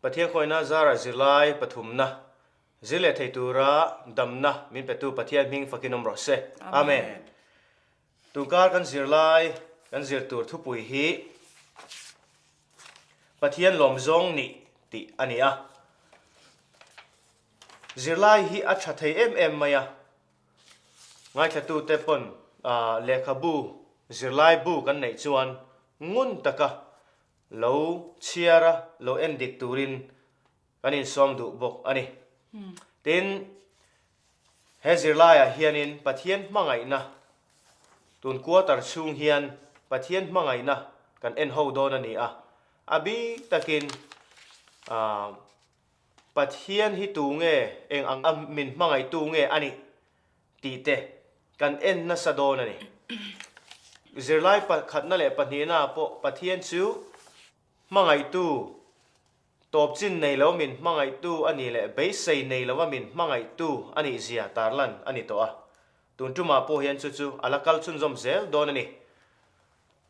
Pathian khawina zar a zir lai pathumna zir leh thei tura damna min petu Pathian hming fakin awm rawh se. Amen. Tunkar kan zir lai kan zir tur thupui hi Pathian lawm zawng nih tih a ni a. Zir lai hi a tha thei em em mai a. Ngaihthlatute pawn lehkhabu zirlaibu kan neih chuan ngun taka lo chhiar a, lo en dik turin kan insawm duh bawk a ni. Tin, he zirlaiah hianin Pathian hmangaihna tun kuatar chhung hian Pathian hmangaihna kan en ho dawn a ni a, a bik takin Pathian hi tu nge eng ang a min hmangaihtu nge a nih tih te kan en nasa dawn a ni. Zirlai pakhatna leh pahnihnaa pawh Pathian chu hmangaihtu, tawpchin nei lo min hmangaihtu a ni leh beisei nei lova min hmangaihtu a nih zia tarlan a ni tawh a. Tun tumah pawh hian chu chu a la kal chhunzawm zel dawn a ni.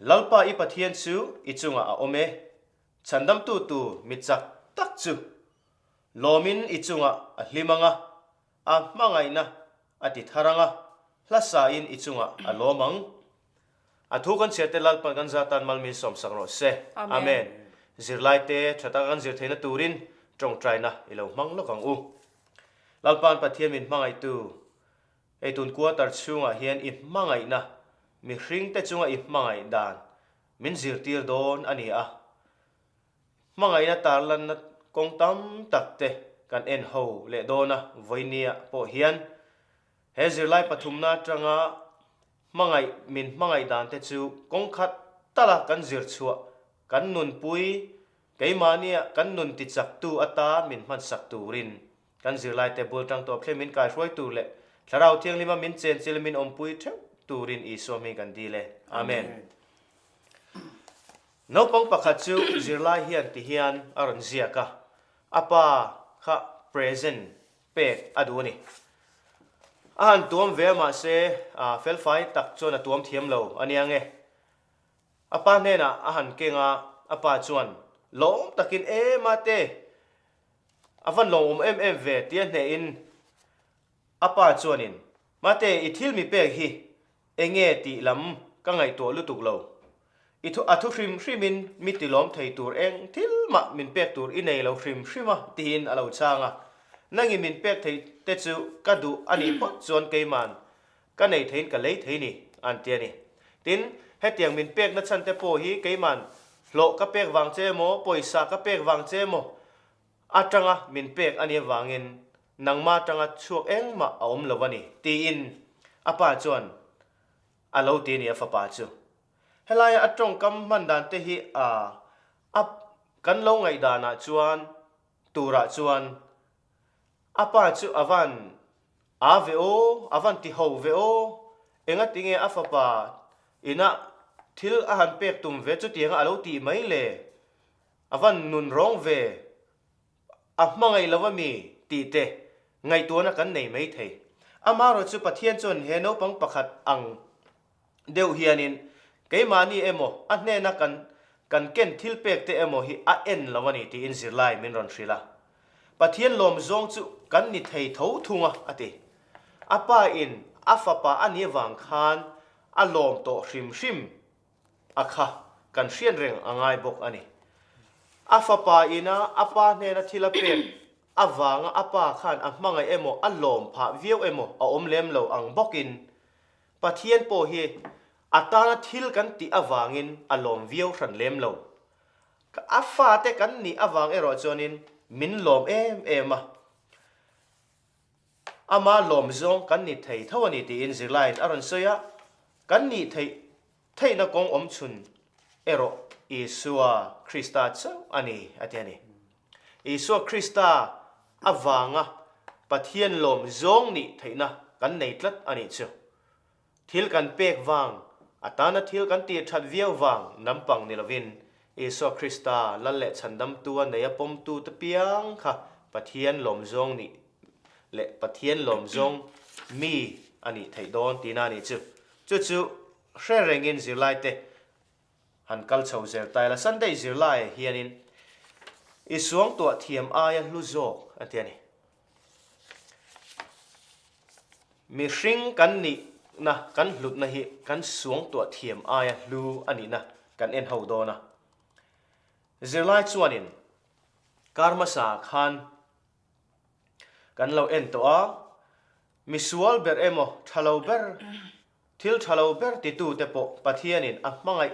Lalpa i Pathian chu i chungah a awm e, chhandamtu tu mi chak tak chu lawmin i chungah a hlim ang a, a hmangaihna a ti thar ang a, hlasain i chungah a lawm ang. A thu kan chhiarte Lalpan kan zat tan malmin sawmsak rawh se. Amen. Zirlaite tha taka kan zir theihna turin tawngtaina i lo hmang lawk ang u. Lalpan Pathian min hmangaihtu Heitun quarter chhungah hian i hmangaihna mihringte chunga i hmangaih dan min zirtir dawn a ni a. Hmangaihna tarlanna kawng tam takte kan en ho leh dawn a, Vawinia pawh hian he zirlai pathumna atanga hmangaih min hmangaih dante chu kawng khat tala kan zir chhuah, kan nunpui, keimahniah kan nun tichaktu ata min hmansak turin. Kan zirlaite bul tang tawh khlei min kai hruai tur leh Thlarau Thianglima min chenchil min awmpui theuh turin Isua hming kan dil e. Amen. Naupang pakhat chu zirlai hian ti hian a rawn ziak a, A pa kha present pek a duh a ni. A han tuam ve a mahse felfai tak chuan a tuam thiam lo a nia nge. A pa hnenah a han keng a, a pa chuan, Lawm takin, E Mate, A van lo awm em em ve, tia hneh in a pa chuan in, Mate, i thil mi pek hi eng nge tih lam ka ngaihtuah lutuk lo. I thu a thu hrim hrim in mi tilawm thei tur eng thil mah min pek tur i nei lo hrim hrim a ti in a lo chang a. Nang i min pek thei te chu ka duh a nih phawt chuan keiman Ka nei theiin ka lei thei ni, an ti a ni. Tin, hetiang min pekna chhante pawh hi keiman hlawh ka pek vang che emaw, pawisa ka pek vang che emaw atanga min pek a ni avangin nangma atanga chhuak engmah a awm lo a ni, tiin a pa chuan a lo ti a ni a fapa chu. Helaia a tawngkam hman dan te hi a a kan lo ngaihdanah chuan turah chuan A pa chu a van a ve aw, a van ti ho ve aw, engatinge a fapa inah thil a han pek tum ve chutianga a lo tih mai le, a van nun rawng ve, a hmangaih lo a mi tih te ngaihtuahna kan nei mai thei. Amaherawhchu Pathian chuan he naupang pakhat ang deuh hianin keimahni emaw a hnena kan kan ken thilpek te emaw hi a en lo a ni tiin zirlai min rawn hrilh a. Pathian lawm zawng chu kan ni thei tho thung a, a ti. A pa in a fapa a ni avang khan a lawm tawh hrim hrim a kha kan hriat reng a ngai bawk a ni. A fapa ina a pa hnena thil a pek avanga a pa khan a hmangaih emaw a lawm phah viau emaw a awm lem lo ang bawkin Pathian pawh hi a tana thil kan tih avangin a lawm viau hran lem lo. Ka a fate kan nih avang erawh chuanin min lawm em em a. Ama lawm zawng kan ni thei tho a ni tiin zirlaiin a rawn sawi a, kan nih theih Theihna kawng awm chhun erawh Isua Krista chauh a ni a ti a ni. Isua Krista avanga Pathian lawm zawng nih theihna kan nei tlat a nih chu. Thil kan pek vang, a tana thil kan tirthat viau vang lampang ni lovin Isua Krista lal leh chhandamtu a nei a pawmtu te piang kha Pathian lawm zawng nih leh Pathian lawm zawng mi a nih theih dawn tiin a ni chu. Chu chu hre rengin zirlaite han kal chho zel ta ila, Sunday zirlaiah hianin i suangtuah thiam aia hlu zawk a tia ni. Mihring kan nihna, kan hlutna hi kan suangtuah thiam aia hlu a nihna kan en ho dawn a. Zirlai chuanin Karma sa khan kan lo en tawh a, misual ber emaw thalo ber Thil tha lo ber titu te pawh Pathianin a hmangaih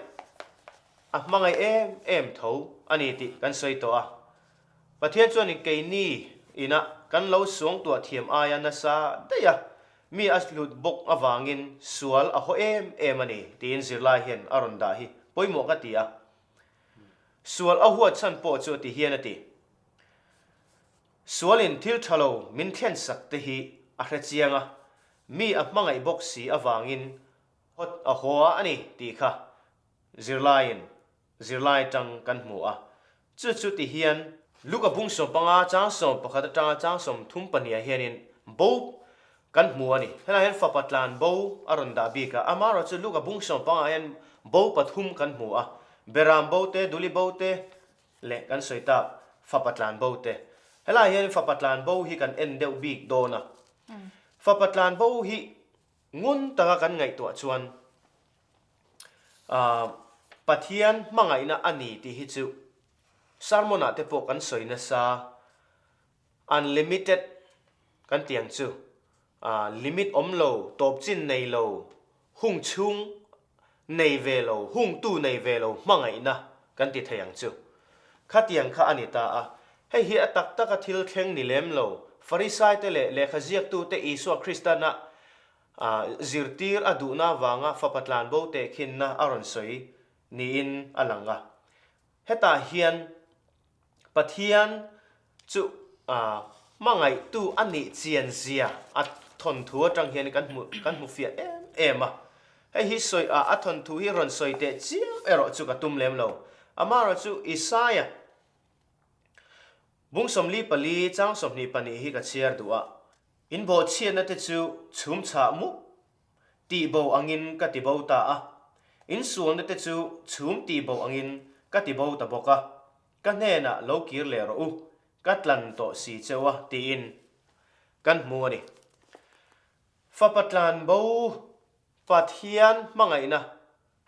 a hmangaih em em tho a ni tih kan sawi tawh a. Pathian chuanin keini inah kan lo suangtuah thiam aia nasa daia mi a hlut bawk avangin sual a haw em em a ni tiin zirlai hian a rawn dah hi pawimawh ka ti a. Sual a huatchhan pawh chu a ti hian a ti. Sualin thil tha lo min thlen sak te hi a hre chiang a, mi a hmangaih bawk si avangin hot a haw a a ni tih kha zirlaiin zirlai tang kan hmu a. Chu chu ti hian. Luka bungsaw panga chang sawm pakhat atanga chang sawm thum pahniha hianin bo kan hmu a ni. Helaiah hian fapa tlan bo a rawn dah bik a, ama erawh chu luka bungsaw pangah hian bo pathum kan hmu a, Beram bo te, Duli bo te, Leh kan sawi ta Fapa Tlanbo te. Helai hian in Fapa Tlanbo hi kan en deuh bik dawn a. Fapa Tlanbo hi ngun taka kan ngaihtuah chuan ah Pathian hmangaihna a ni tih hi chu Sermon-ah te pawh kan sawi nasa. Unlimited kan tih ang chu limit awm lo, tawp chin nei lo, hung chhung nei ve lo, hung tu nei ve lo hmangaihna kan ti thei ang chu. Khatiang kha a ni ta a, hei hi a tak taka thil thleng ni lem lo. Farisaite leh lehkha ziaktute Isua Kristan a zirtir a duhna avanga fapa tlanbo tehkhinna a rawn sawi niin a lang a. Hetah hian Pathian chu hmangaihtu a nih chianzia a thawnthu atang hian kan hmu kan hmu fiah em em a. Hei hi sawi a a thawnthu hi rawn sawi teh chiang erawh chu ka tum lem lo. Amaherawh chu Isaiah bung sawmli pali chang sawmhnih pahnih hi ka chhiar duh a, in bawhchhiatna te chu chhumchhah mup tih bo angin ka ti bo ta a, insualna te chu chhum tih bo angin ka ti bo ta bawk a, ka hnenah lo kir leh rawh u, ka tlan tawh si che u a tiin kan hmu a ni. Fapa Tlanbo Pathian hmangaihna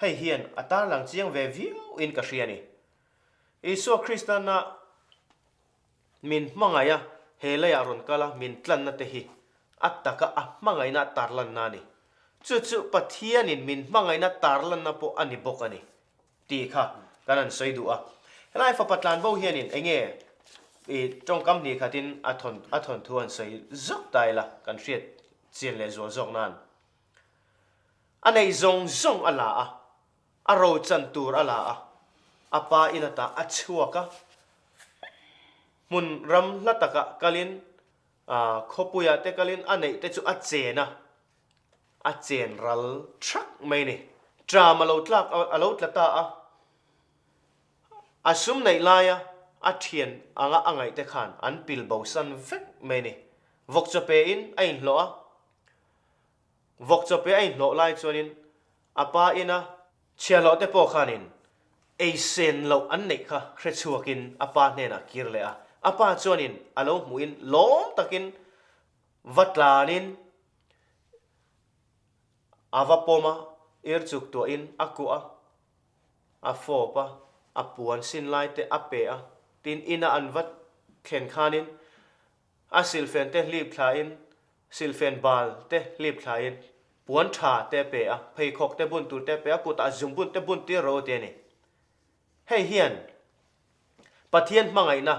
hei hian a tarlang chiang ve viau in ka hria ni. Isua Krista na Min hmangaih a, he lei ah rawn kal a min tlanna te hi a taka a hmangaihna a tarlanna a ni. Chu chu Pathianin min hmangaihna tarlanna pawh a ni bawk a ni tih kha kan han sawi duh a. Helai Fapa Tlanbo hianin enge i tawngkam hnikkhatin a thawn a thawn thu han sawi zawk ta ila kan hriat chian leh zual zawk nan a nei zawng zawng a la a. A rochan tur a la a, a pa ina tah a chhuak a. Hmun ram hla takah kalin Khawpuia te kalin a neih te chu a chen a, a chen ral thak mai ni. Tram a lo tlak a, a lo tla ta a. A sum neih laia a thian anga a ngaihte khan an pil bosan vek mai ni. Vawk chawpe in a inhlawh a, vawk chawpe a inhlawh lai chuanin A pa ina chhia lohte pawh khanin ei sen loh an neih kha hre chhuakin a pa hnenah kir leh a. A pa chuanin a lo hmuhin lawm takin va tlanin a va pawm a, ir chuk tuahin a kuah a, a fawp a, a puan sin laite a pe a. Tin ina an va thlen khanin A silfen te hlip thlain silfen bal te hlip thlain puan tha te pe a, pheikhawk te bun tur te pe a, kut ah zum bun te bun tir ro tia ni. Hei hian Pathian hmangaih na,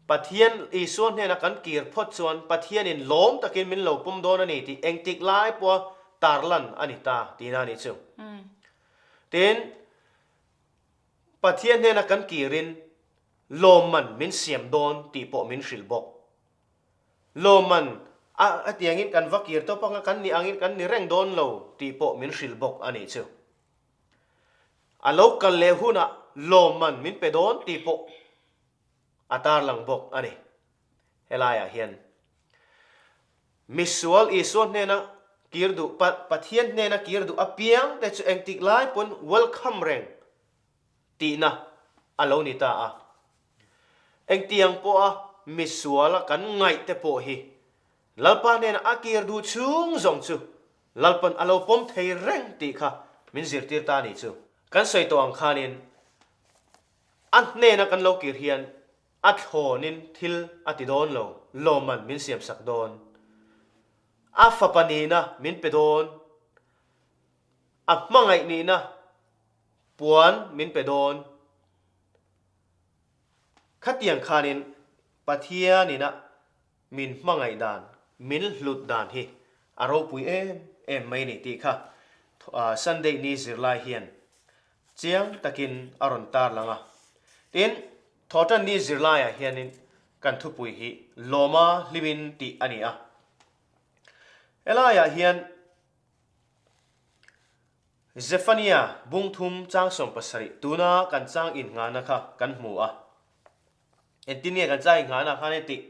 Pathian Isua hnena kan kir phawt chuan Pathian in lawm takin min lo pawm dawn a ni tih engtik lai pawha tar lan a ni ta ti na ni chu. Tin Pathian hnena kan kir in, Lawmman min siam dawn tih pawh min hrilh bawk. Lawmman a a tiangin kan va kir tawp anga kan nih angin kan ni reng dawn lo tih pawh min hrilh bawk a nih chu. A lo kal leh hunah lawmman min pe dawn tih pawh a tarlang bawk a ni. Helaiah hian misual Isua hnena kir duh, pa Pathian hnena kir duh apiangte chu engtik lai pawn welcome reng Tihna a lo ni ta a. Engtiang pawha misual a kan ngaihte pawh hi Lalpa hnena a kir duh chhung zawng chu Lalpa'n a lo pawm thei reng tih kha min zirtir ta a ni chu. Kan sawi tawh ang khanin a hnena kan lo kir hian a thlawnin thil a ti dawn lo lawmman min siamsak dawn. A fapa nihna min pe dawn, a hmangaih nihna, Puan min pe dawn. Khatiang khanin Pathianin a min hmangaih dan, min hlut dan hi a ropui em em mai ni tih kha Sunday ni zirlai hian chiang takin a rawn tarlang a. Tin, Thawhtan ni zirlaiah hianin kan thupui hi lawma hlimin tih a ni a. Helaiah hian Zephania bungthum chang sawm pasarih tuna kan chang innghahna kha kan hmu a, engtin nge kan chang innghahna khan i tih?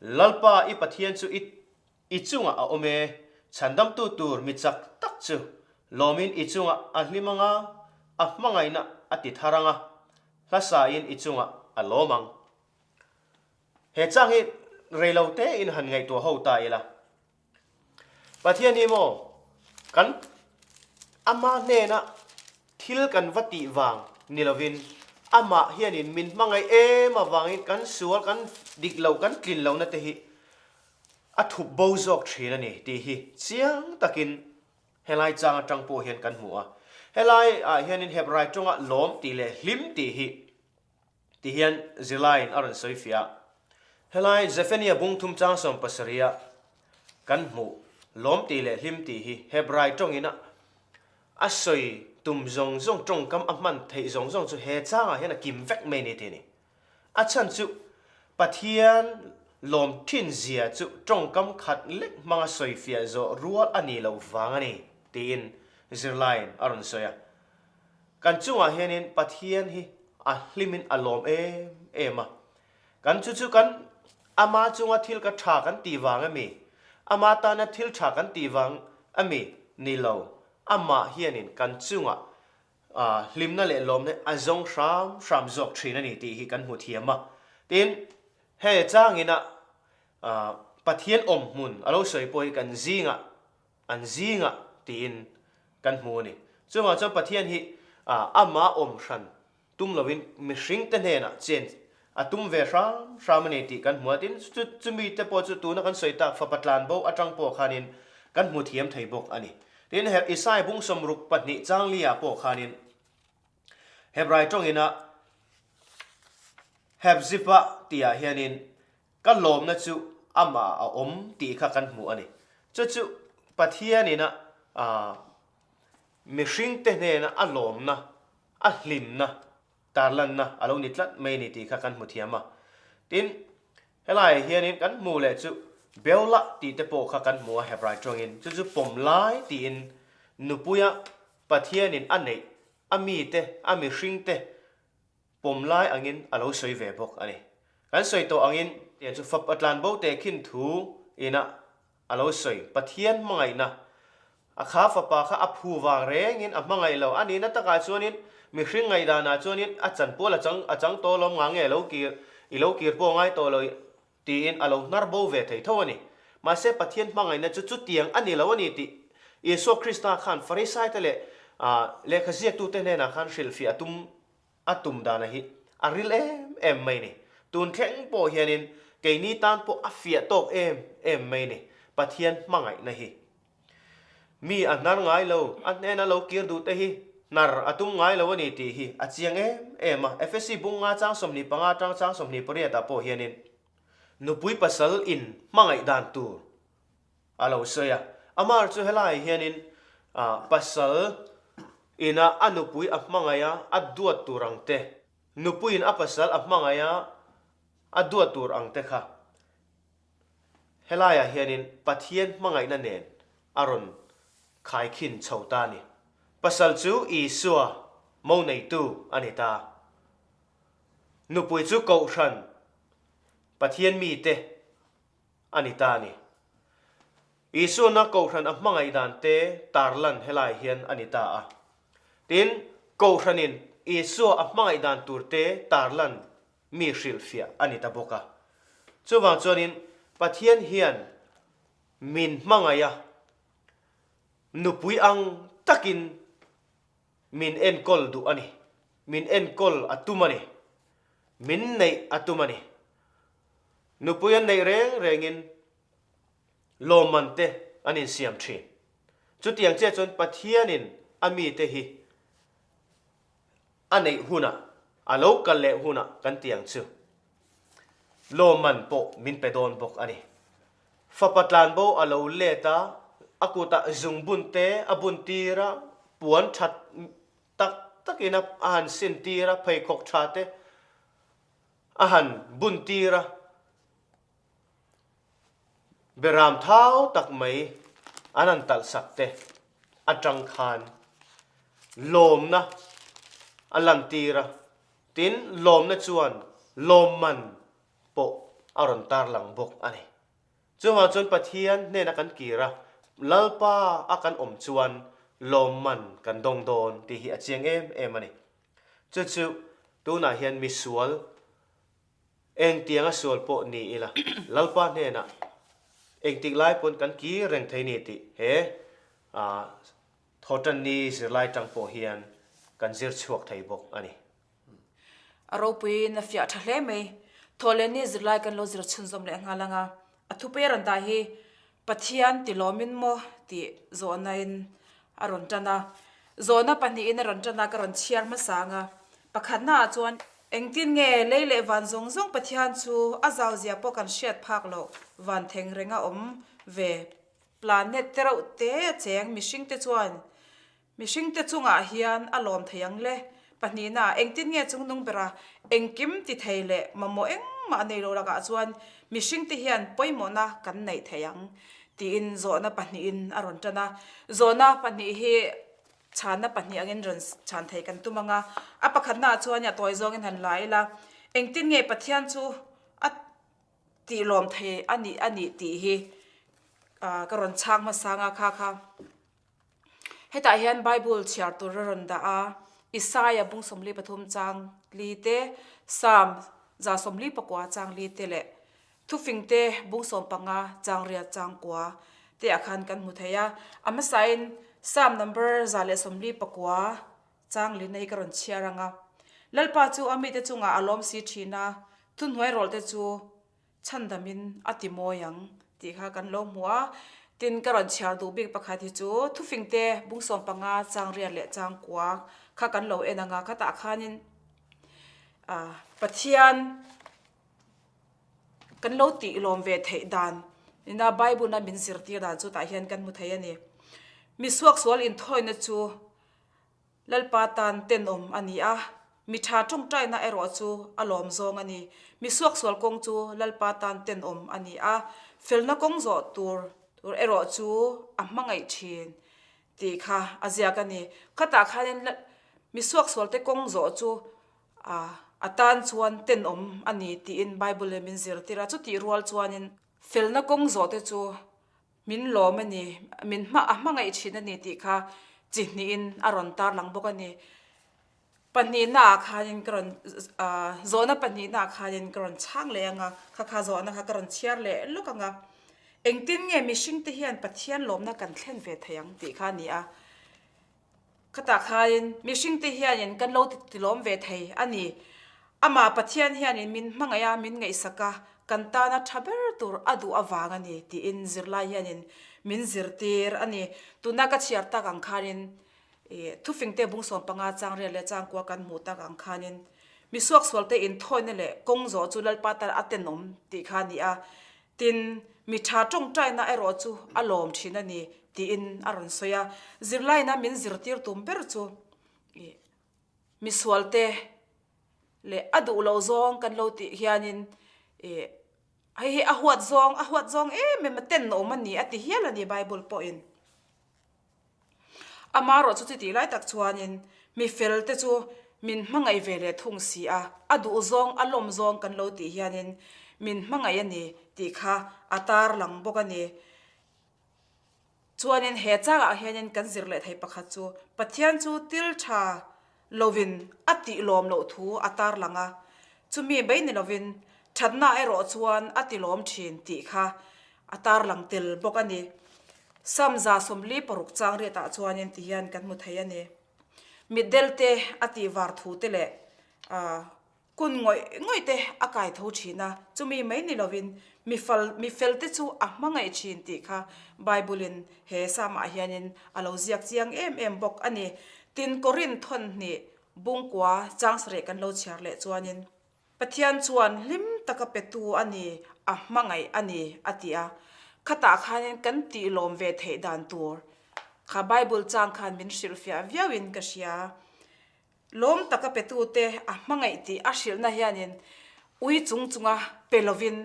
Lalpa i Pathian chu i i chungah a awm e, chhandamtu tur mi chak tak chu lawmin i chungah a hlim anga a hmangaihna a ti thar anga hlasain i chungah a lawm ang. He chang hi reilo tein han ngaihtuah ho ta ila? Pathian hi maw kan Ama hnena thil kan va tih vang ni lovin, Amah hianin min hmangaih em avangin kan sual kan dik loh, kan tlin lohna te hi a thup bo zawk thin a ni tih hi chiang takin helai chang atang pawh hian kan hmu a. Helai ah hianin Hebrai tawngah lawm tih leh hlim tih hi, Ti hian zirlaiin a rawn sawi fiah. Helai Zephaniah bung thum chang sawm pasarih-a kan hmuh lawmti leh hlimti hi Hebrai tawngin a a sawi tum zawng zawng, tawngkam a hman theih zawng zawng chu he changah hian a kim vek mai ni thei ni. A chhan chu Pathian lawm thinzia chu tawngkam khat lek hmanga sawi fiah zawh rual a ni lo vang a ni, tiin zirlaiin a rawn sawi a. Kan chungah hianin Pathian hi a hlimin a lawm em em a. Kan chu chu kan Ama chunga thil ka tha kan tih vang a mi? Ama tana thil tha kan tih vang a mi? Ni lo. Amah hianin kan chungah hlimna leh lawmna a zawng hram hram zawk thin a ni tih hi kan hmu thiam a. Tin, hei changin a Pathian awm hmun a lo sawi pawh hi kan zingah an zing a tiin kan hmu a ni. Chuvangah chuan Pathian hi Amah awm hran tum loin mihringte hnenah chen a tum ve hram hram a ni tih kan hmu a. Tin, chumite pawh chu tuna kan sawi tak Fapa Tlanbo atang pawh khanin kan hmu thiam thei bawk a ni. Tin, he Isai bungsom ruk pahnih Changlia pawh khanin Hebrai tawngina Hepzibah tia hianin Ka lawmna chu amah a awm tih kha kan hmuh a ni. Chu chu Pathianin a mihringte hnena a lawmna, a hlimna, tarlanna a lo ni tlat mai a ni tih kha kan hmu thiam a. Tin, helaiah hianin kan hmuh leh chu Beulah tih te pawh kha kan hmu a Hebrai tawngin. Chu chu pawm lai tiin nupuia Pathianin a neih, a mite, a mihringte, pawm lai angin a lo sawi ve bawk a ni. Kan sawi tawh angin tiang chu fapa tlan bo te khin thu ina a lo sawi, Pathian hmangaihna a kha fapa kha a phu vang rengin a hmangaih lo. A nihna takah chuanin mihring ngaih danah chuanin a chanpual a chang a chang tawh lawm ngang e, lo kir i lo kir pawh ngai tawh lo. Tiin a lo hnar bo ve thei tho a ni. Mahse, Pathian hmangaihna chu chutiang a ni lo a ni tih Isua Krista khan Farisaite leh lehkha ziaktute hnenah khan hrilhfiah a tum a tum danah hi a ril em em mai ni. Tun thleng pawh hianin keini tan pawh a fiah tawk em em mai ni Pathian hmangaihna hi. Mi a hnar ngai lo, a hnena lo kir duh te hi hnar a tum ngai lo a ni tih hi a chiang em em a. Efesi bung nga chang sawmhnih panga atang chang sawmhnih pariat ah pawh hianin nupui pasal in hmangaih dan tur a lo sawi a. Amar chu helaiah hianin pasal in a a nupui a hmangaih a a duat tur ang te, nupuiin a pasal a hmangaih a a duat tur ang te kha, Helaiah hianin Pathian hmangaihna nen a rawn khaikhin chho ta a ni. Pasal chu Isua mo neitu a ni ta. Nupui chu Kohhran Pathian mite a ni ta a ni. Isuana Kohhran a hmangaih dan te tarlan helai hian a ni ta a. Tin, Kohhranin Isua a hmangaih dan tur te tarlan mi hrilhfiah a ni ta bawk a. Chuvang chuanin Pathian hian min hmangaih a, nupui ang takin min enkawl duh a ni, min enkawl a tum a ni, min neih a tum a ni. Nupui an neih reng rengin lawmmante an insiam thin. Chutiang chiah chuan Pathianin a mite hi a neih huna a lo kal leh huna kan ti ang chu lawmman pawh min pe dawn bawk a ni. Fapa Tlanbo a lo let a, a kutah zungbunte a bun tir a, puan that tak takin a han sin tir a, pheikhawk tha te a han bun tir a, Beram thau tak mai an han talhsak te atang khan lawmna a lantir a, tin lawmna chuan lawmman pawh a rawn tarlang bawk a ni. Chuvang chuan Pathian hnena kan kir a, Lalpa a kan awm chuan lawmman kan dawng dawn tih hi a chiang em em a ni. Chu chu tunah hian misual, Eng tiang a sual pawh ni ila Lalpa hnenah engtik lai pawn kan kir reng thei ni tih he Thawtanni zirlai tang pawh hian kan zir chhuak thei bawk a ni. A ropuiin a fiah tha hle mai. Thawhlenni zirlai kan lo zir chhunzawm lehnghal anga a thupe ran dai hi Pathian ti lawmin maw tih Zonain a rawn tan a. Zona pahnihin a rawn tan a, ka rawn chhiar hmasa ang a. Pakhatnaah chuan, Engtin nge lei leh van zawng zawng Pathian chu a zauzia pawh kan hriat phak loh? Van theng reng a awm ve. Planet te reuhte cheng mihringte chuan Mihringte chungah hian a lawm thei ang le. Pahnihna, engtin nge chung nung bera engkim ti thei leh mamawh engmah nei lo lakah chuan mihringte hian pawimawhna kan neih thei ang, tiin zawhna pahnihin a rawn tan a. Zawhna pahnih hi chhanna pahnih angin rawn chhan thei kan tum ang a. A pakhatnaah chuan nia tawi zawngin han la ila, engtin nge Pathian chu a tih lawm thei a nih a nih tih hi ka rawn chhak hmasa ang a kha kha. Hetah hian Bible chhiar tur a rawn dah a, Isaiah bung sawmli pathum chang li te, Psalm za sawmli pakua chang li te leh Thufingte bung sawm panga chang riat chang kua te ah khan kan hmu thei a. A hmasahin Psalm number za leh sawmli pakua chang li na hi ka rawn chhiar ang a. Lalpa chu a mite chungah a lawmsi thin a, thuhnuai rawlte chu Chhan damin a ti mawi ang tih kha kan lo hmu a, tin ka rawn chhiar duh bik pakhat hi chu thufingte bung sawm panga changriat leh changkua kha kan lo en ang a, khatah khanin Pathian kan lo tih lawm ve theih dan ina Bible-a min zirtir dan chu tah hian kan hmu thei a ni. Misuak sual inthawina chu. Lalpa tan tenawm a ni a, mi tha tawngtaina erawh chu a lawm zawng a ni. Mi suak sual kawng chu Lalpa tan tenawm a ni a, felna kawng zawh tur tur erawh chu a hmangaih thin tih kha a ziak a ni. Khatah khanin la mi suak sualte kawng zawh chu a tan chuan tenawm a ni tiin Bible leh min zirtir a, chutih rual chuanin felna kawng zawhte chu Min lawm a ni, min hma a hmangaih thin a ni tih kha chi hnihin a rawn tarlang bawk a ni. Pahnihnaa khanin ka rawn zawhna pahnihnaa khanin ka rawn chhang leh ang a, khakha zawhna kha ka rawn chhiar leh lawk ang a. Engtin nge mihringte hian Pathian lawmna kan thlen ve thei ang tih kha a ni a. Khata khain mihringte hianin kan lo tilawm ve thei a ni. Amah Pathian hianin min hmangaih a, min ngaihsak a, kan tana tha ber tur a duh avang a ni, tiin zirlai hianin min zirtir a ni. Tuna ka chhiar tak ang khanin thufengte bung sawm panga changrel leh changkual kan hmuh tak ang khanin misuak sualte inthawina leh kawng zawh chu Lalpa tana a tenawm tih kha a ni a. Tin, mi tha tawngtaina erawh chu a lawm thin a ni, tiin a rawn sawi a. Zirlaina min zirtir tum ber chu ih misualte leh a duh loh zawng kan lo tih hianin ih hei hi a huat zawng, a huat zawng em em a tenawm a ni a ti hial a ni Bible pawhin. Ama erawh chu chutih lai tak chuanin mi felte chu min hmangaih ve leh thung si a, a duh zawng a lawm zawng kan lo tih hianin min hmangaih a ni tih kha a tarlang bawk a ni. Chuanin he changah hianin kan zir leh thei pakhat chu Pathian chu thil tha, lovin a tih lawm loh thu a tarlang a, chumi beih ni lovin thatna erawh chuan a ti lawm thin tih kha a tarlang tel bawk a ni. Sam za sawmli paruk changriatah chuanin ti hian kan hmu thei a ni. Mitdelte a tihvar thute leh Kun ngawih ngawih te a kai tho thin a, chumi mai ni lovin mi fal, mi felte chu a hmangaih thin tih kha Bible-in he Salmah hianin a lo ziak chiang em em bawk a ni. Tin, Korin thawn hnih bungkua chang sarih kan lo chhiar leh chuanin, Pathian chuan hlim taka petu a ni, a hmangaih a ni a ti a. Khatah khanin kan tih lawm ve theih dan tur kha Bible chang khan min hrilhfiah viauin ka hria. Lawm taka petute a hmangaih tih a hrilhna hianin ui chung chunga pe lovin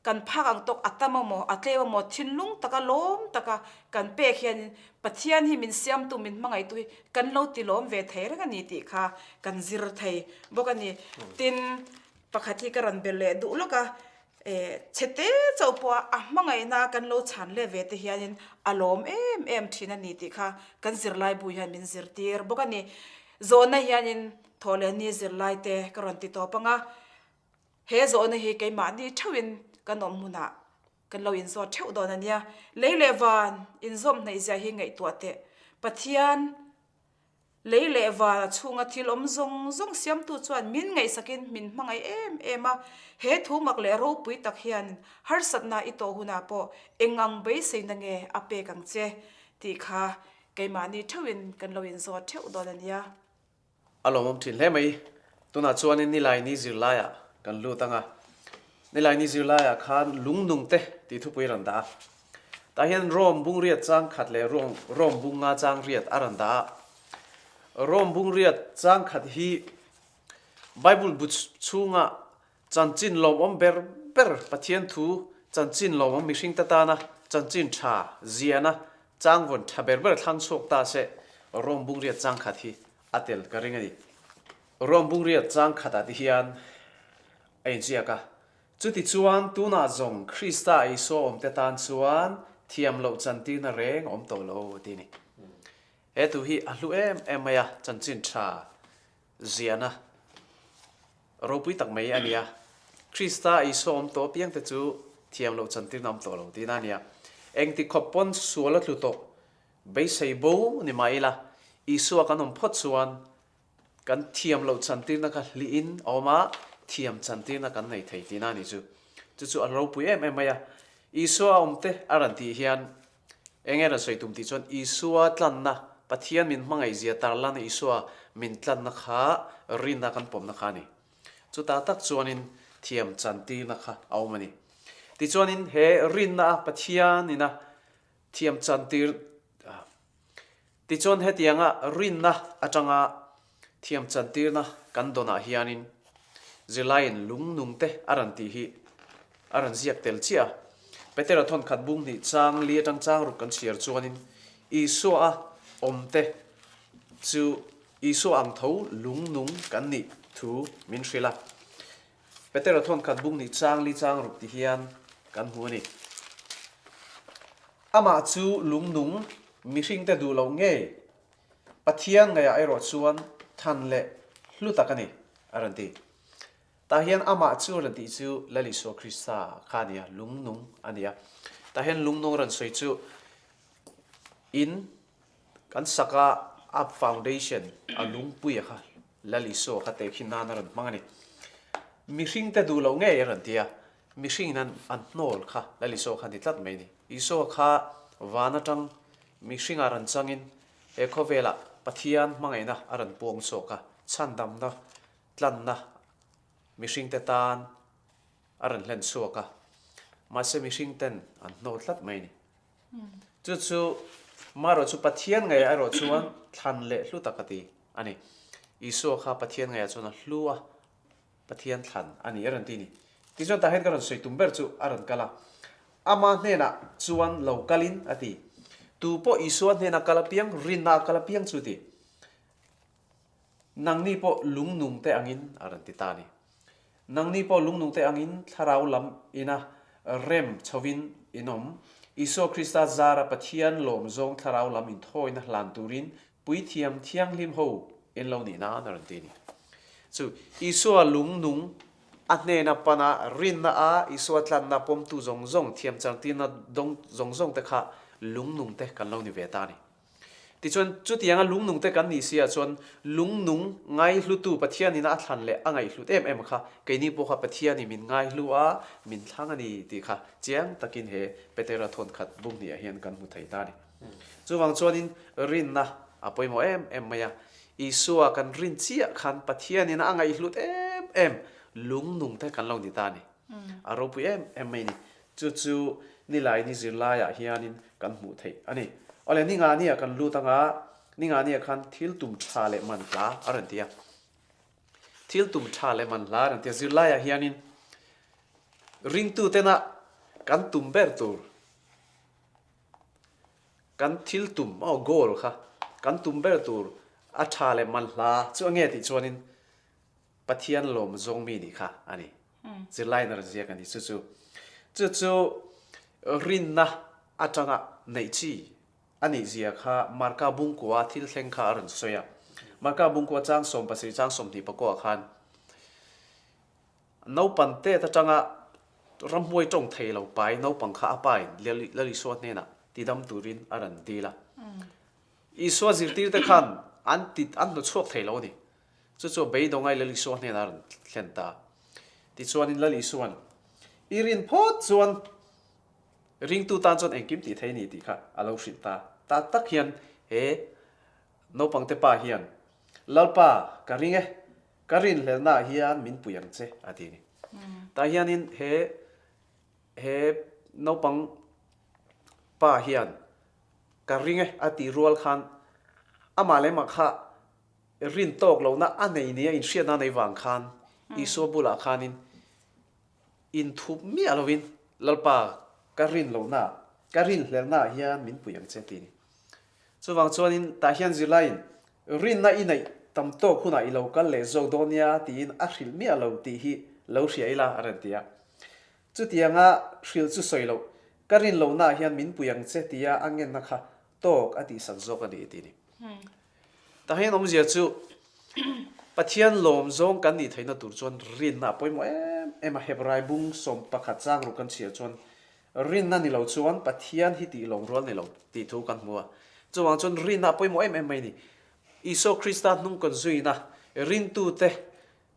kan phak ang tawk a tam a maw, a tlem a maw, thinlung taka lawm taka kan pek hianin Pathian hi min siamtu, min hmangaihtu hi kan lo ti lawm ve thei reng a ni tih kha kan zir thei bawk a ni. Tin, pakhat hi ka rawn be leh duh lawk a, Eh, chhete chauh pawha a hmangaihna kan lo chhan leh ve te hianin a lawm em em thin a ni tih kha kan zirlaibu hian min zirtir bawk a ni. Zawhna hianin Thawhlehni zirlaite ka rawn ti tawp anga, he zawhna hi keimahni theuhin kan awm hunah kan lo inzawt theuh dawn a nia. Lei leh van inzawm hnaihzia hi ngaihtuah teh, Pathian Lei leh val a chhunga thil awm zawng zawng siamtu chuan min ngaihsakin min hmangaih em em a. He thu mak leh ropui tak hian harsatna i tawh hunah pawh eng ang beiseina nge a pek ang che tih kha keimahni theuhin kan lo inzawt theuh dawn a nia. A lawmawm thin hle mai. Tunah chuanin nilai ni zirlaiah kan lut ang a. Nilai ni zirlaiah khan lungnung te tih thupui a rawn dah a. Tah hian Rome bungriat changkhat leh Rome bung nga changriat a rawn dah a. Rome bungriat changkhat hi Bible bu chhunga chanchin lawmawm ber ber Pathian thu chanchin lawmawm mihring te tana chanchin tha ziahna changvawn tha ber ber thlang chhuak ta se Rome bungriat changkhat hi a tel ka ring a ni. Rome bungriat chang khatah te hian a inziak a, chutichuan tunah zawng Krista Isua awmte tan chuan thiam loh chantirna reng a awm tawh lo tih ni. He tu hi a hlu em em mai a, chanchin tha ziahna ropui tak mai a nia. Krista Isua awm tawh apiangte chu thiam loh chantirna a awm tawh lo tihna a nia. Engti khawp pawn sual a tlu tawh beisei bo ni mah ila Isua kan awm phawt chuan Kan thiam loh chantirna kha hliin a awm a, thiam chantirna kan nei thei tihna ni chu chu chu an ropui em em mai a. Isua a awmte a ran tih hian eng nge rawn sawi tum tih chuan Isua tlanna, Pathian min hmangaihzia tar lana Isua min tlanna kha rinna kan pawmna kha a ni. Chutah tak chuanin thiam chantirna kha a awm a ni. Tichuanin he rinna a Pathian ina thiam chantir a. Tichuan hetianga rinna atanga thiam chantirna kan dawnah hianin zirlaiin lungnungte a rawn tih hi a rawn ziak tel chiah a. Petera thawnkhat bung hnih chang li atang chang ruk kan chhiar chuanin Isua-a awmte chu Isua ang tho lungnung kan nih thu min hrilh a. Petera thawn khat bung nih chang li chang ruk ti hian kan hmu a ni. Amah chu lungnung mihringte duh loh ngei Pathian ngaihah erawh chuan than leh hlu tak a ni a rawn ti. Tah hian amah chu a rawn tih chu Lal Isua Krista kha a nia, lungnung a nia. Tah hian lungnung rawn sawi chu in Kan saka Up Foundation a lungpui a kha Lal Isu a kha te khi nan a rawn hmang a ni. Mihring te duh lo ngei a rawn ti a, mihringin an an hnawl kha Lal Isu a kha ni tlat mai a ni. Isu a kha van atang mihringah rawn changin he khawvela Pathian hmangaihna a rawn puang chhuak a, chhandamna tlanna mihringte tan a rawn hlen chhuak a, mahse mihringten an hnawl tlat mai a ni. Chu chu maherawh chu Pathian ngaihah erawh chuan thlan leh hlu tak a ti a ni. Isua kha Pathian ngaihah chuan a hlu a, Pathian thlan a ni a rawn ti a ni. Tichuan tah hian ka rawn sawi tum ber chu a rawn kal a, Ama hnenah chuan lo kalin a ti. Tu pawh Isua hnena kal apiang, rinna a kal apiang chu a ti. Nangni pawh lungnungte angin a rawn ti ta a ni. Nangni pawh lungnungte angin thlarau lam ina rem chhovin in awm, Isua Krista zara Pathian lawm zawng thlarau lam inthawina hlan turin puithiam thianghlim ho en lo nih nan a rawn ti a ni. Chu Isua lungnung, a hnena pana rinna a Isua tlanna pawmtu zawng zawng thiamchangtirna dawng zawng zawngte kha lungnungte kan lo ni ve ta a ni. Tichuan, chutianga lungnungte kan nih sia chuan lungnung ngaihlutu Pathianin a thlan leh a ngaihhlut em em kha keini pawh kha Pathianin min ngaihhlu a, min thlang a ni tih kha chiang takin he Petera thawnkhat buk hnih ah hian kan hmu thei ta a ni. Chuvang chuanin rinna a pawimawh em em mai a, Isua kan rin chiah khan Pathianin a ngaihhlut em em lungnungte kan lo ni ta a ni, a ropui em em mai a ni. Chu chu nilai ni zirlaiah hianin kan hmuh theih a ni. Awle Ninga nia kan lut anga Ninga nia khan thil tum tha leh man hla a rawn ti a. Thil tum tha leh man hla a rawn ti a. Zirlaiah hianin ringtutena kan tum ber tur, kan thil tum maw goal kha kan tum ber tur a tha leh man hla chu a nge tih chuanin Pathian lawm zawng mi nih kha a ni. Zirlaiin a rawn ziak a ni chu chu. Chu chu rinna atanga neih chi a nih zia kha Marka Bungkua thil thleng kha a rawn sawi a. Marka Bungkua chang sawm pasarih chang sawm hnih pakua ah khan naupan te atanga ramhuai tawng thei lo pai naupang kha a pa in Lal Isua hnenah ti dam turin a rawn dil a. Isua zirtir te khan an ti an hnu chhuak thei lo a ni. Chu chu beidawngah i Lal Isua hnenah a rawn thlen ta. Tichuanin Lal Isua'n i rin phawt chuan ringtu tan chuan engkim tih theih ni tih kha a lo hrilh ta. Tah tak hian he naupangte pa hian, Lalpa, ka ring e, ka rinhlelnah hian min pui ang che, a ti a ni. Tah hianin he he naupang pa hian ka ring e a tih rual khan amah leh mah kha Rin tawk lohna a nei nia inhriatna nei vang khan Isua bulah khanin inthup miah loin, Lalpa, ka rin lohnaah, ka rin hlelhnaah hian min pui ang che ti ni. Chuvang chuanin tah hian zirlaiin rinna i neih tam tawk hunah i lo kal leh zawk dawn nia tiin a hrilh miah lo tih hi lo hria ila a rawn ti a. Chutianga hrilh chu sawi loh, ka rin lohnaah hian min pui ang che tia a ngenna kha tawk a tih san zawk a ni tih ni. Tahin awmzia chu Pathian lawm zawng kan nih theihna tur chuan rinna a pawimawh em em a, Hebrai bung sawm pakhat changruk kan chhiah chuan rinna ni lo chuan Pathian hi tih lawm rual ni lo tih thu kan hmu a, chuvang chuan rinna a pawimawh em em mai a ni. Isua Krista hnungkawn zuina rintute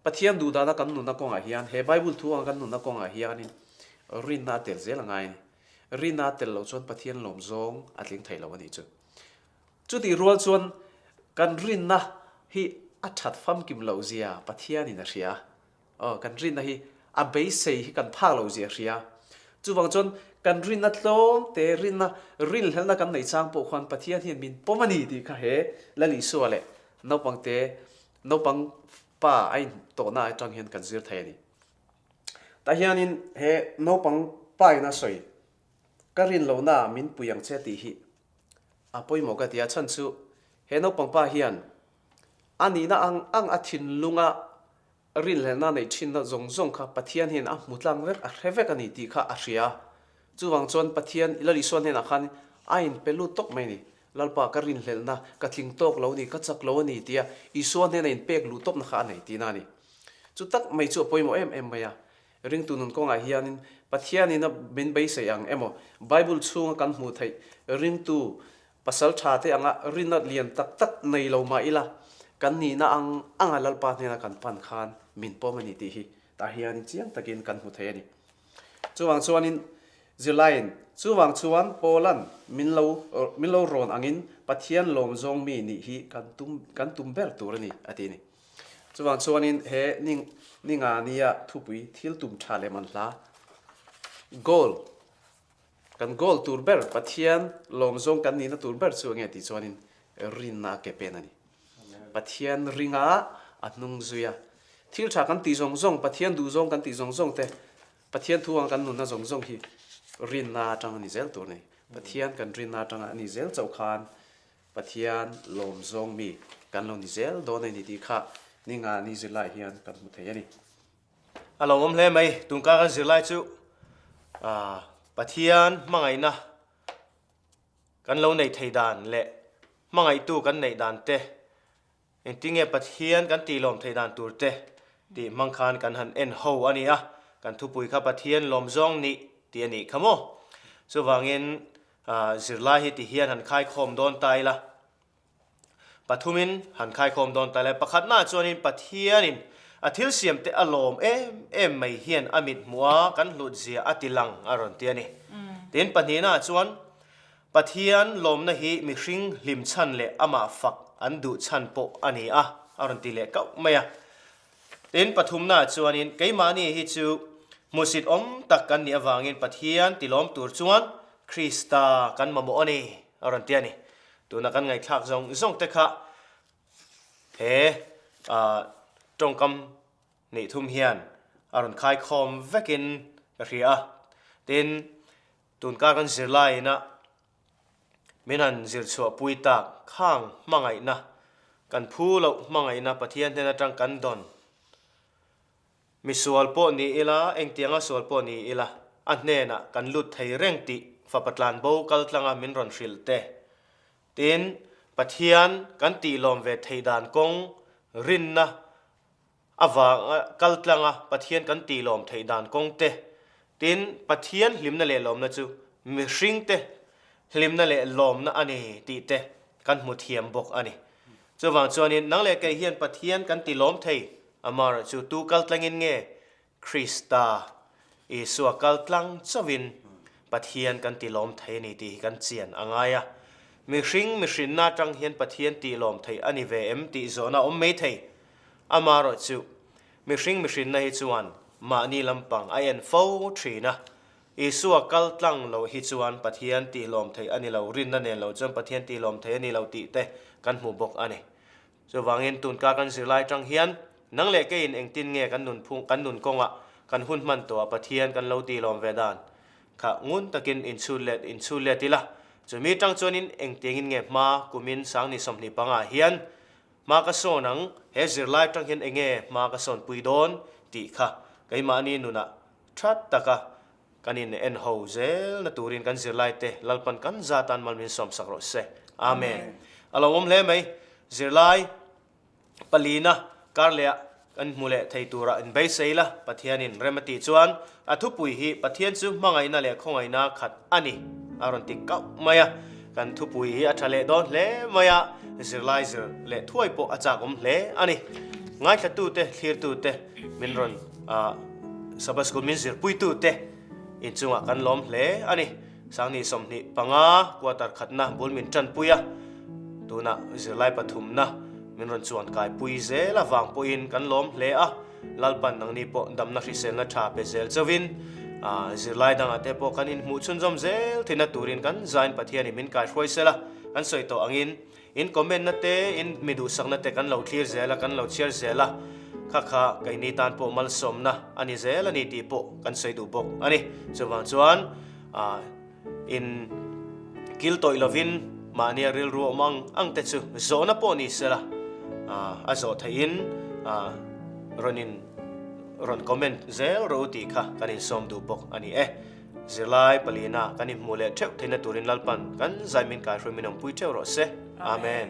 Pathian duhdana kan nunna kawngah hian, he Bible thu anga kan nunna kawngah hianin rinna a tel zel a ngai a ni. Rinna a tel loh chuan Pathian lawm zawng a tling thei lo a nih chu. Chutih rual chuan kan rinna hi a that famkim loh zia Pathianin a hria a. Aw, kan rinna hi a beisei hi kan phak loh zia a hria. Chuvang chuan kan rinna tlawng te, rinna rinhlelhna kan nei chang pawh khuan Pathian hian min pawm a ni tih kha he Lalisua leh naupangte Naupang pa a in tawhna atang hian kan zir thei a ni. Tah hianin he naupang pa ina sawi ka rin lohna ah min pui ang che tih hi a pawimawh ka ti a. Chhan chu he naupang pa hian a nihna ang ang a thinlunga rinhlelhna neih thinna zawng zawng kha Pathian hian a hmu tlang vek a hre vek a ni tih kha a hria. Chuvang chuan Pathian i Lalisual hnenah khan a in pe lut tawk mai a ni. Lalpa, ka rinhlelhna, ka tling tawk lo a ni, ka chak lo a ni tia Isua hnena inpek luhtawpna kha a nei tina a ni. Chu tak mai chu a pawimawh em em mai a. Ringtu nun kawngah hianin Pathianin a min beisei ang emaw, Bible chhunga kan hmuh theih ringtu pasal tha te anga rinna lian tak tak nei lo mah ila kan nihna ang anga Lalpa hnena kan pan khan min pawm a ni tih hi tah hianin chiang takin kan hmu thei a ni. Chuvang chuanin zirlaiin, Chuvang chuan Paula'n min lo min lo rawn angin Pathian lawm zawng mi nih hi kan tum kan tum ber tur a ni, a ti a ni. Chuvang chuanin he Ning Ninga nia thupui thil tum tha leh man hla, goal, Kan goal tur ber Pathian lawm zawng kan nihna tur ber chu ange tih chuanin rinna a ke pen a ni. Pathian ringa a hnung zui a. Thil tha kan tih zawng zawng, Pathian duh zawng kan tih zawng zawng te, Pathian thu anga kan nunna zawng zawng hi rinna atang a ni zel tur a ni. Pathian kan rinna atanga a ni zel chauh khan Pathian lawm zawng mi kan lo ni zel dawn a ni tih kha ni nga ni zir laiah hian kan hmu thei a ni. A lo awm hle mai. Tun kar kan zir lai chu Pathian hmangaihna kan lo neih thei dan leh hmangaihtu kan neih dan te, engtin nge Pathian kan tih lawm thei dan tur te tih hmang khan kan han en ho a ni a, kan thupui kha Pathian lawm zawng nih tih a nih kha maw. Chuvangin zirlai hi tihian han khai khawm dawn ta ila. Pathumin han khaikhawm dawn ta le. Pakhatnaah chuanin Pathianin a thil siamte a lawm em em mai hian a mithmuh a kan hlutzia a tilang a rawn ti a ni. Tin, pahnihnaah chuan Pathian lawmna hi mihring hlim chhan leh amah fak an duh chhan pawh a ni a, a rawn ti leh kauh mai a. Tin, pathumnaah chuanin keimahni hi chu hmuhsit awm tak kan nih avangin Pathian tilawm tur chuan Krista kan mamawh a ni, a rawn ti a ni. Tuna kan ngaihthlak zawng zawng te kha he tawngkam hnih thum hian a rawn khaikhawm vekin ka hria a, tin tun kar kan zir laiin a min han zir chhuah pui tak khang hmangaihna, kan phu loh hmangaihna Pathian hnen atang kan dawn. Misual pawh ni ila, engtianga sual pawh ni ila, a hnenah kan lut thei reng tih Fapa Tlanbo kaltlanga min rawn hrilh te. Tin, Pathian kan tih lawm ve theih dan kawng rinna avanga kaltlanga Pathian kan tih lawm theih dan kawng te Tin, Pathian hlimna leh lawmna chu mihringte hlimna leh lawmna a ni tih te kan hmu thiam bawk a ni. Chuvang chuanin, nang leh kei hian Pathian kan ti lawm thei amarawh chu tu kal tlangin nge Krista Isua kal tlang chauhin Pathian kan ti lawm thei a ni tih hi kan chian a ngai a. Mihring mihrinna atang hian Pathian ti lawm thei a ni ve em tih zawhna a awm mai thei amarawh chu Mihring mihrinna hi chuan mahni lampang a en fo thin a. Isua kal tlang loh hi chuan Pathian tih lawm theih a ni lo, rinna nen lo chuan Pathian tih lawm thei a ni lo tih te kan hmu bawk a ni. Chuvangin tunka kan zirlai atang hian nang leh keiin engtin nge kan nun phung, kan nun kawnga kan hun hman tawha Pathian kan lo tih lawm ve dan kha ngun takin inchhut let inchhut let ila, chumi atang chuanin engtiangin nge hma kumin sangni sawmhnih panga hian Hma ka sawn ang, he zirlai tang hian enge hma ka sawn pui dawn tih kha keimahni nunah that taka kan in en ho zel na turin kan zirlai te Lalpan kan za tan mal min sawmsak rawh se. Amen. A lo awm hle mai. Zirlai palina kar leh ah Kan hmu leh thei tura in beisei la, Pathianin rem a tih chuan a thupui hi Pathian chu hmangaihna leh khawngaihna khat a ni a rawn ti kauh mai a. Kan thupui hi a tha leh dawn hle mai a, zirlai zir leh thuai pawh a chakawm hle a ni. Ngaithlatute, thlirtute, min rawn Sabbath School min zirpuitute inchungah kan lawm hle a ni. Sangni sawmhnih panga quarter khatna bul min tanpui a, tunah zirlai pathumna min rawn chuan kaipui zel avang pawhin kan lawm hle a, Lalpan nangni pawh damna hriselna tha pe zel chauhin zirlai dangah te pawh kan inhmuh chhunzawm zel thina turin kan zain Pathian in min kaihruai sela kan sawi tawh angin In comment na te in mi duhsak na te kan lo thlir zel a, kan lo chhiar zel a, kha kha kei ni tan pawh malsawm na a ni zel a ni tih pawh kan sawi duh bawk a ni. Chuvang chuan aah in kil tawih lo vin mahnia rilru awm ang ang te chu zawh na pawh ni se la aah a zawh theih in aah rawn in rawn comment zel ro u tih kha kan in sawm duh bawk a ni e. Zirlai pali na kan in hmuh leh theuh theihna turin Lalpan kan zai min kai hruaimin awmpui theuh rawh se. Amen.